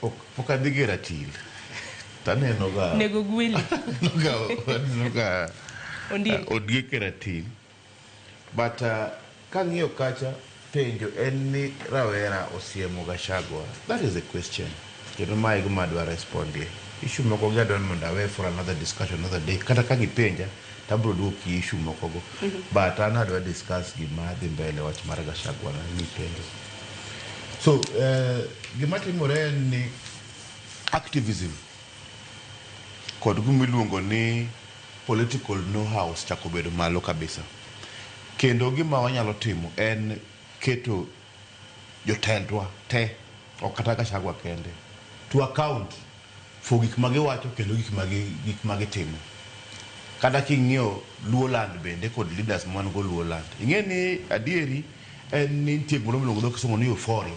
Ok ok adhi gi ratil. To aneno ga. Nego gweli. Aneno ga aneno ga Ondiek. uh, ondiek e ratil. But uh, kang'iyo kacha penjo en ni rawera osiemo Gachagua. That is the question. Kendo ma e gima adwa respondie. Issue moko gi adwa ni mondo awe for another discussion another day. Kata ka gipenja to abiro duoki issue mokogo. But an adwa discuss gima dhi mbele wach mar Gachagua na mipenjo. So, eh, gima timore en ni activism kod gima iluongo ni political know-how chako bedo malo kabisa. Kendo gima wanyalo timo en keto jotendwa te, ok kata Gachagua kende, to account. for gik ma giwacho kendo gik ma gik ma gitimo. Kata king'iyo Luo land bende kod leaders ma wan go Luo land, ing'e ni adieri en ni nitie gimoro miluongo gi dho kisungu ni euphoria.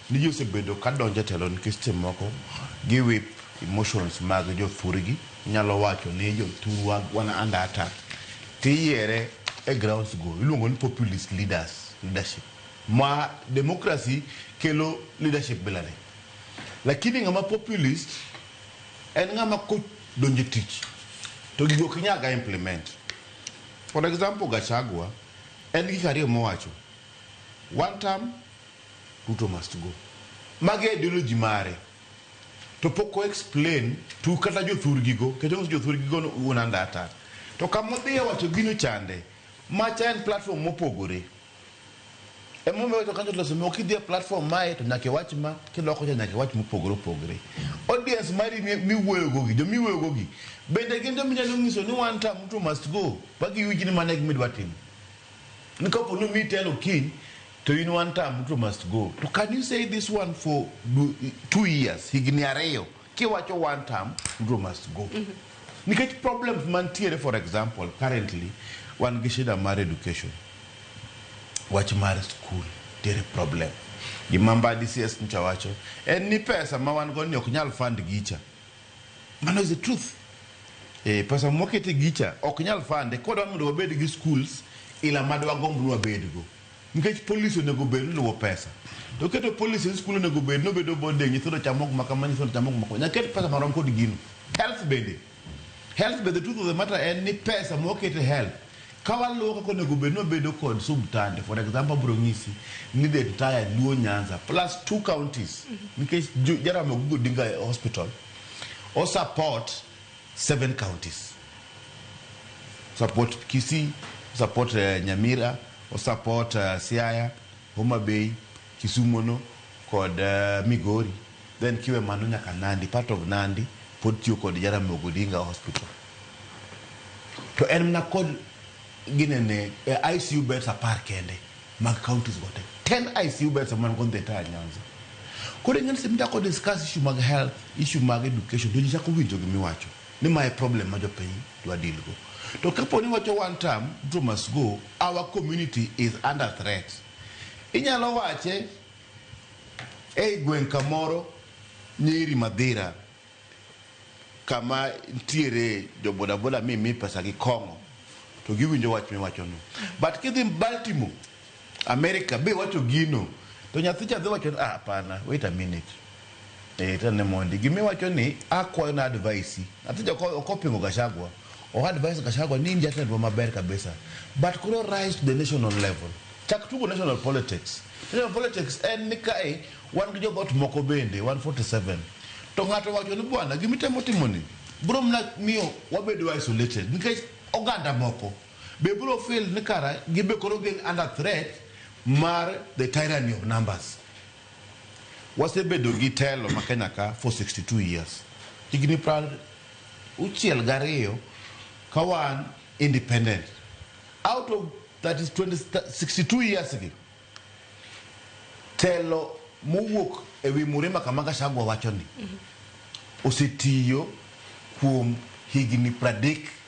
Ni ji osebedo ka donjo e telo nikech seche moko gi whip emotions mag jo thurgi. Inyalo wacho ni jo thurwa wan under attack, tiyiere e grounds go. Iluongo ni populist leaders, leadership. Ma democracy kelo leadership bila ni. Lakini ng'ama populist en ng'ama kodonje tich to gigo ok inyal ga implement. For example Gachagua en gik ariyo mowacho one term Ruto must go. Magi ideology mare to pok o explain to kata jothurgi go keto ngus jothurgi go unandata to kamodhiye wacho gino chande macha en platform mopogore. Emomiyo wacho kanyo loso mo kidhie platform mae to nyaka iwach ma kiloko cha nyaka iwach mopogore opogore. Audience mari mi- miwuoyo gogi, jo miwuoyo gogi bende gin jo minyalo nyiso ni one time mtu must go ba giwinj ni mano e gima idwa timo. Ni kapo ni omiyi telo kiny to in one time mtu must go. To can you say this one for du- two years, higni ariyo? Kiwacho one term, Ruto must go. Nikech problems mantiere for example, currently wan gi shida mar education. Wach mar school tiere problem. Gima Mbadi CS ncha wacho en ni pesa ma wan go ni ok nyal fund gicha. Mano is the truth. Eh, pesa mwakete gicha ok nyal fande. Kodwa mondo wabed gi schools ila madwa gomb ni wabedgo. Nikech policy onego bed ni luwo pesa. To keto policy ni skul onego bed ni obedo boarding, nyithindo chamo gima kama, nyithindo chamo gima kama. Nyaka ket pesa marom kod gino. Health bende. Health be the truth of the matter en ni pesa ma waketo e health, ka waluwo kaka onego bed ni wabedo kod subtande, for example abiro nyisi ni the entire Luo Nyanza plus two counties, nikech Jo- Jaramogi Oginga Odinga Hospital o support seven counties. Support Kisii, support eh, Nyamira, O support Siaya, Homa Bay, Kisumo no kod Migori then kiwe mano nyaka Nandi, part of Nandi pod tiyo kod Jaramogi Odinga Hospital to en mana kod ginene, ICU beds apar kende mag counties go te. 10 ICU beds ema wan go in the entire Nyanza. Koro ing'eni sama ichako discuss issue mag health, issue mag education to ji chako winjo gima iwacho ni ma e problem ma jopiny dwa deal go. To kapo ni wacho one term, Ruto must go, our community is under threat. Inyalo wache ei gweng' kamoro Nyeri Madhira kama ntiere jo bodaboda mi mi pesa gi kong'o to giwinjo wach miwachono. But kidhi Baltimore America be wacho gino to nyathi cha dhi wacho ni ah hapana wait a minute eh tane mondi gimi wacho ni akwayo na advice nyathi cha ok ok opingo Gachagua o advice Gachagua ni in jatendwa maber kabisa but koro rise to the national level chak tugo national politics national politics en ni kae wan gi jodhot moko bende 147 to ng'ato wacho ni bwana gimitemo timoni bro mna miyo wabedo isolated nikech oganda moko Be biro feel ni kara gin be koro gin under threat mar the tyranny of numbers? Wasebedo gi telo ma Kenya ka for 62 years. Higni pra uchiel gariyo ka wan independent. Out of that is 20, 62 years gi, telo mowuok e wi Murima kama Gachagua wacho ni osetiyo kuom higni pradek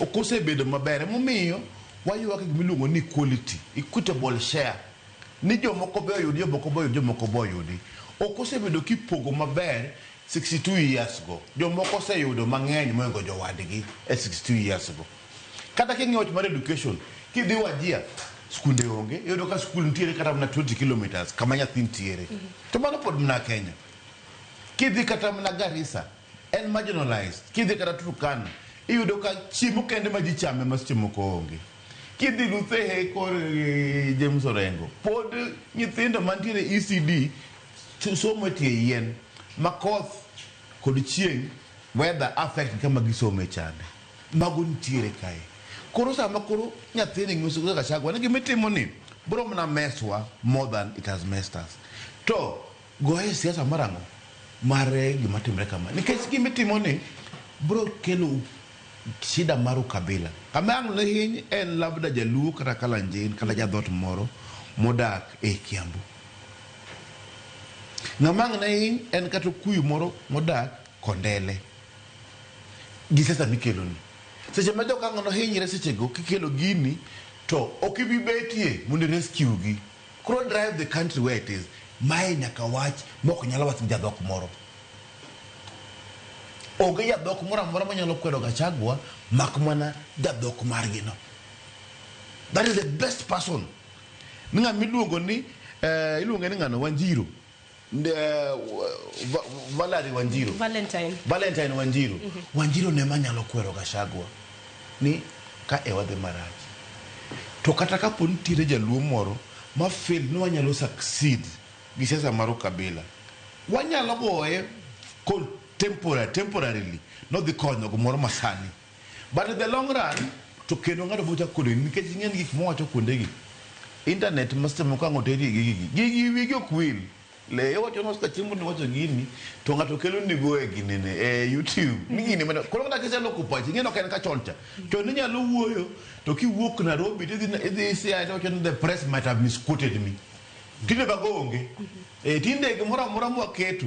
ok osebedo maber. Emomiyo waywak gima iluongo ni equality, equitable share. Ni jomoko be oyudi, jomoko be oyudi, jomoko be oyudi. Ok osebedo kipogo maber 62 years go. Jomoko oseyudo mang'eny mohingo jowadgi e 62 years go. Kata king'iyo wach mar education, kidhi Wajir, skunde onge, iyudo ka skul nitiere kata mana 20 kilometres kama nyathi nitiere. To mano pod mana Kenya. Kidhi kata mana Garissa, en marginalized. Kidhi kata Turkana, iyudo ka chiemo kende ma ji chame ma seche moko onge. Kidhi Luthehe kor eh, James Orengo, pod nyithindo mantiere ECD so- somo e tie yien ma koth kod chieng' weather affect kama gisome chande. Mago nitiere kae. Koro sama koro nyathini ng'iso kaka Gachagua ni gima itimo ni bro mana meswa more than it has messed us. To Goye siasa mar ang'o? Mar gima timre kama. Nikech gima itimo ni bro kelo shida mar ukabila. Kama ang' lehiny en labda jaluo kata kalanjin kata jadhot moro modak e Kiambu. Ng'ama ang' ne hiny en kata okuyu moro modak Kondele. Gi siasa mikeloni. Seche ma jokang'o nohinyre sechego kikelo gini to ok ibi betie mondo i rescue gi. Koro drive the country where it is. Mae nyaka wach mok nyal wach gi jadhok moro. Onge jadhok moro amora manyalo kwedo Gachagua mak mana jadhok margi no. That is the best person. Ni ng'ama iluongo ni, eh, iluonge ni ng'ano, Wanjiru. Nde, va, Valerie Wanjiru. Valentine. Valentine Wanjiru. Mm -hmm. Wanjiru ne manyalo kwero Gachagua ni ka e wadhi marach. To kata ka po nitiere jaluo moro ma fail ni wanyalo succeed gi siasa mar ukabila. Wanyalo goye temporary, temporarily nodhi konyo gimoro masani. But in the long run to kendo ng'ato biro chako kodeni nikech ing'e ni gik mowacho kuondegi internet ma seche moko ang' oteri gi gigi gigi wigi ok wil le iwacho ni osika chieng' mondo iwacho gini to ng'ato kelo nigo e ginene e youtube ni gini mana koro kata kiseloko pachi ing'e ni ok en ka chon cha chon inyalo wuoyo to kiwuok Nairobi to idhi idhi Siaya to iwacho ni the press might have misquoted me tinde bago onge Eh, tinde gimoro amora mwaketo